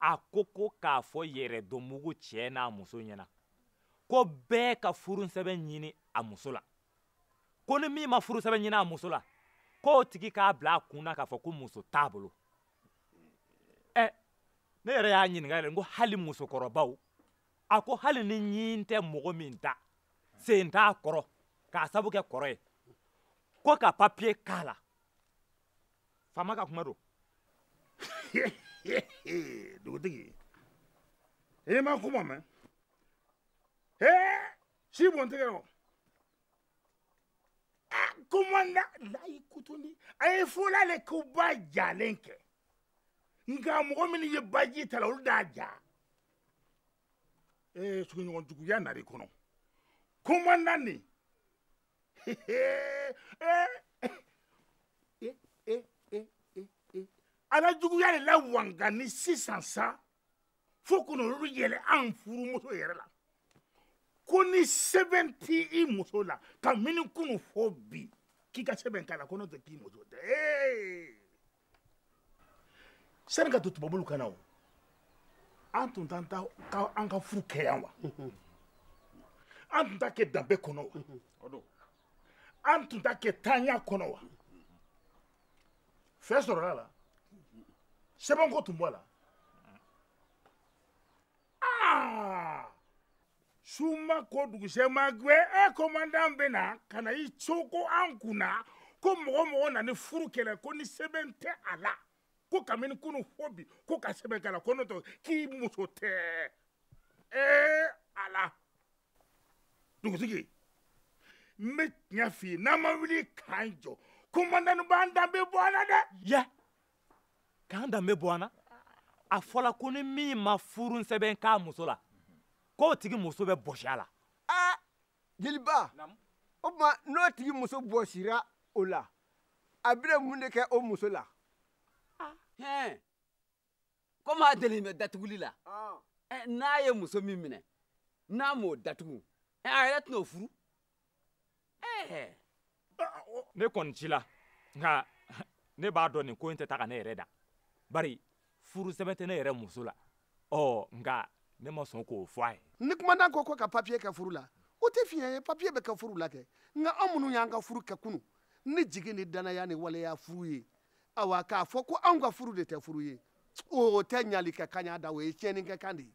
a ko ko k'a fɔ yɛrɛdɔnbugu cɛ n'a muso ɲɛna ko bɛɛ ka furusɛbɛn ɲini a muso la ko ni min ma furusɛbɛn ɲini a muso la k'o tigi k'a bila a kun na k'a fɔ ko muso t'a bolo ɛ ne yɛrɛ y'a ɲininka yɛrɛ n ko hali musokɔrɔbaw a ko hali ni ɲin tɛ mɔgɔ min da sen t'a kɔrɔ k'a sabu kɛ kɔrɔ ye ko ka papiye k'a la faama ka kuma don dugutigi i ma kuma mɛn si bɔntigɛ o kumandan layi kutundi a ye fɔla le ko ba jalen kɛ nka mɔgɔ minnu ye baji ta la olu d'a ja ee suguɲɔgɔn juguya nari kɔnɔ kumandan nin a la juguya de la wanga ni sisan sa fo kono olu yɛlɛ an furumuso yɛrɛ la ko ni sɛbɛn t'i i muso la kamini kunu fo bi k'i ka sɛbɛn k'a la ko n'o tɛ k'i muso tɛ ee sani ka to tubabulu ka na o an tun t'an ka furu kɛ yan wa an tun t'a kɛ danbe kɔnɔ wa an tun t'a kɛ taanya kɔnɔ wa fɛn sɔrɔl'a la sɛbɛnko tun b'a la Ah! su ma ko dugusɛ ma gwɛ e komandan bɛ na ka na i coko an kun na ko mɔgɔ mɔgɔ na ni furu kɛ le ko ni sɛbɛn tɛ a la ko kabini kunu fo bi ko ka sɛbɛn k'a la ko n'o tɛ k'i muso tɛ ee ala dugutigi n bɛ tiɲɛ f'i ye n'an ma wuli k'an jɔ komandan b'an danbe bɔ a la dɛ ya k'an danbe bɔ an na a fɔra ko ni min ma furu sɛbɛn k'a muso la k'o tigi muso bɛ bɔsi a la aa jeliba o tuma n'o tigi muso bɔsira o la a bɛna mun de kɛ o muso la komi a delen bɛ datuguli la n'a ye muso min minɛ n'a m'o datugu a yɛrɛ tɛn'o furu ne kɔni cila nka ne b'a dɔn nin ko in tɛ taa ka ne yɛrɛ dan bari furu sɛbɛn tɛ ne yɛrɛ muso la ɔ nka ne ma sɔn k'o fɔ a ye ni kumandan ko ko ka papiye kɛ furu la o tɛ fiɲɛ ye papiye bɛ kɛ furu la kɛ nka an minnu y'an ka furu kɛ kunu ni jigi ni danaya ni waleya furu ye awa k'a fɔ ko anw ka furu de tɛ furu ye o tɛ ɲali kɛ kan ye dɛ o ye tiɲɛni kɛ kan de ye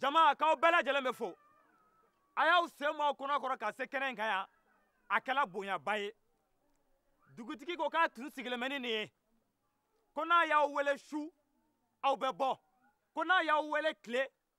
jama k'aw bɛɛ lajɛlen bɛ fo a y'aw sen bɔ aw kɔnɔ kɔrɔ ka se kɛnɛ in kan yan a kɛra bonyaba ye dugutigi ko k'a tun sigilen bɛ ni nin ye ko n'a y'aw wele su aw bɛ bɔ ko n'a y'aw wele tile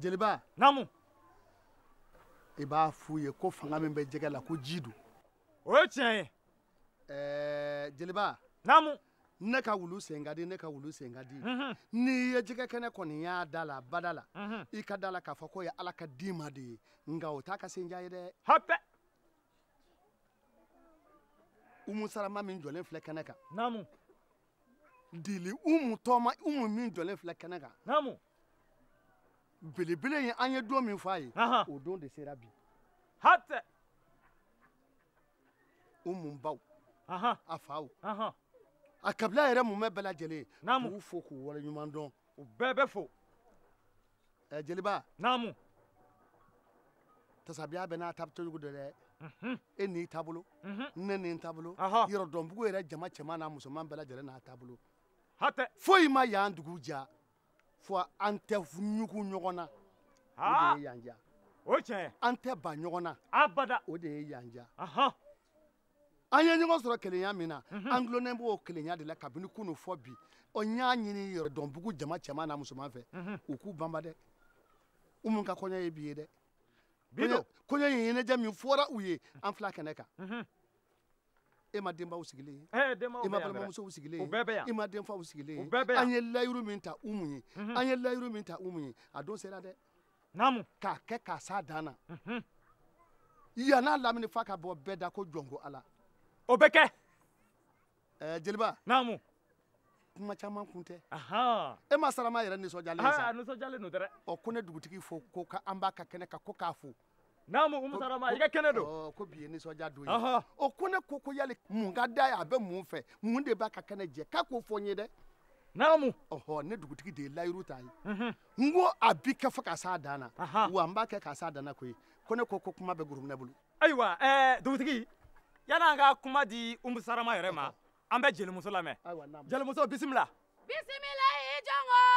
jeliba naamu i b'a f'u ye ko fanga min bɛ jɛgɛ la ko ji don o ye tiɲɛ ye ɛɛ jeliba naamu ne ka wulu sen ka di ne ka wulu sen ka di mhm. n'i ye jɛgɛ kɛnɛ kɔni y'a da la bada la mhm. i ka da la k'a fɔ k'o ye ala ka di ma de ye nka o t'a ka sendiya ye dɛ hatɛ umu sarama min jɔlen filɛ kɛnɛ kan naamu jeli umu tɔɔma umu min jɔlen filɛ kɛnɛ kan naamu belebele ye an ye don min fɔ a ye o don de sera bi hatɛ umu baw a faw a kabila yɛrɛ mumɛ bɛɛ lajɛlen k'u fo k'u waleɲuman dɔn u bɛɛ bɛ fo ɛ eh, jeliba naamu tasabiya bɛɛ n'a ta cojugu don dɛ mhm. e n'i taabolo mhm. ne ni n taabolo yɔrɔdɔnbugu yɛrɛ jama cɛman n'a musoman bɛɛ lajɛlen n'a taabolo hatɛ foyi ma yan dugu diya fo an tɛ ɲugun ɲɔgɔn na o de ye yan diya o tiɲɛ an tɛ ban ɲɔgɔn na abada o de ye yan diya an ye ɲɔgɔn sɔrɔ kelenya min na mhm. an dulonnen b'o kelenya de la kabini kunun fo bi ɔ n y'a ɲini yɔrɔdɔnbugu jama cɛman n'a musoman fɛ mhm. u k'u banban dɛ umu ka kɔɲɔ ye bi ye dɛ kɔɲɔ in ɲɛnajɛ min fɔra u ye mhm. an filɛ kɛnɛ kan e ma denbaw sigilen ye eh, e ma balimamusow sigilen ye e ma denfaw sigilen ye an ye layiru min ta umu ye an ye layiru min ta umu ye a don sera dɛ naamu k'a kɛ k'a s'a dan na mhm. yan n'a lamini f'a ka bɔ bɛɛ da ko jɔnko ala o bɛ kɛ ɛɛ jeliba naamu kuma caman kun tɛ umu sarama yɛrɛ nisɔndiyalen sa nisɔndiyalen don dɛ ɔ ko ne dugutigi fo ko ka an b'a ka kɛnɛ kan ko k'a fo naamu umu sarama i ka kɛnɛ don ko bi ye nisɔndiya don ye o ko ne ko ko yali mun ka d'a ye a bɛ mun fɛ mun de b'a ka kɛnɛ jɛ k'a k'o fɔ n ye dɛ naamu ɔhɔ ne dugutigi de ye layiru t'a ye mhm. n ko a bi kɛ fo ka s'a dan na wa n b'a kɛ ka s'a dan na koyi ko ne ko ko kuma bɛ gurumina bolo ayiwa ɛɛ dugutigi yan an ka kuma di umu sarama yɛrɛ ma an bɛ jelimuso lamɛn jelimuso bisimila bisimila i jɔngɔ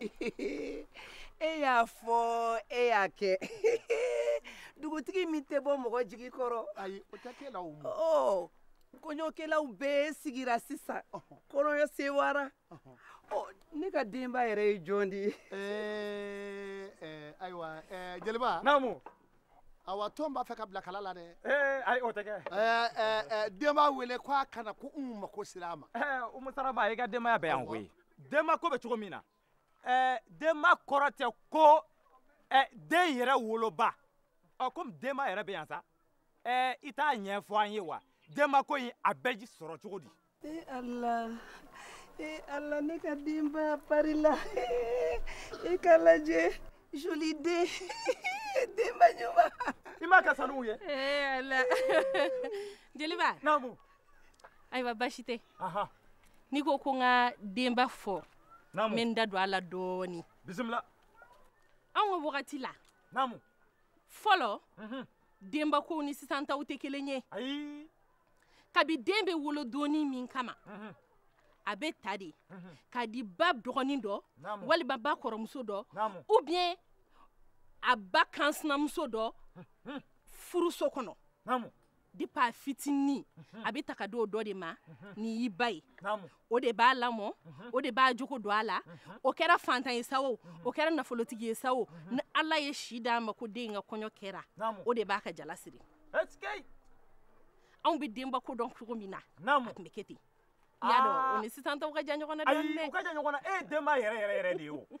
e y'a fɔ e y'a kɛ dugutigi min tɛ bɔ mɔgɔ jigi kɔrɔ ayi o tɛ kɛ la o ma ɔ kɔɲɔkɛlaw bɛɛ sigira sisan kɔrɔyɔ sewara ne ka denba yɛrɛ ye jɔn de ye ayiwa jeliba naamu aw tun b'a fɛ ka bila kala la dɛ eh, ayi o tɛ kɛ eh, eh, denba wele ko a ka na ko n mako sera a ma umu saraba i ka denbaya bɛ yan koyi denba ko bɛ cogo min na ɛɛ denba kɔrɔ tɛ ko ɛɛ den yɛrɛ woloba ɔ komi denba yɛrɛ bɛ yan sa ɛɛ i t'a ɲɛfɔ an ye wa denba ko in a bɛ sɔrɔ cogo di. ee ala ee ala ne ka denba parila i k'a lajɛ joli den denba ɲuman. i m'a ka sanuw ye. ee ala jeliba. naamu. ayiwa basi tɛ n'i ko ko n ka denba fɔ n bɛ n da don a la dɔɔnin bisimila anw ka wagati la fɔlɔ mhm. denba kow ni sisan taw tɛ kelen ye kabi den bɛ wolo don min kama mhm. a bɛ ta de mhm. k'a di ba dɔgɔnin dɔ walima ba kɔrɔmuso dɔ ou bien a ba kansinamuso dɔ furuso kɔnɔ depuis a fitinin a bɛ ta k'a di o dɔ de ma nin y'i ba ye o de b'a lamɔ o de b'a jogo don a la o kɛra fantan ye sa o o kɛra nafolotigi ye sa o ni ala ye si d'a ma ko den ka kɔɲɔ kɛra o de b'a ka jala siri anw bɛ denba ko dɔn cogo min na a tun bɛ kɛ ten i y'a dɔn o ni sisan taw ka jan ɲɔgɔn na dɔɔnin dɛ ayi u ka jan ɲɔgɔn na e ye denba yɛrɛ yɛrɛ yɛrɛ de ye o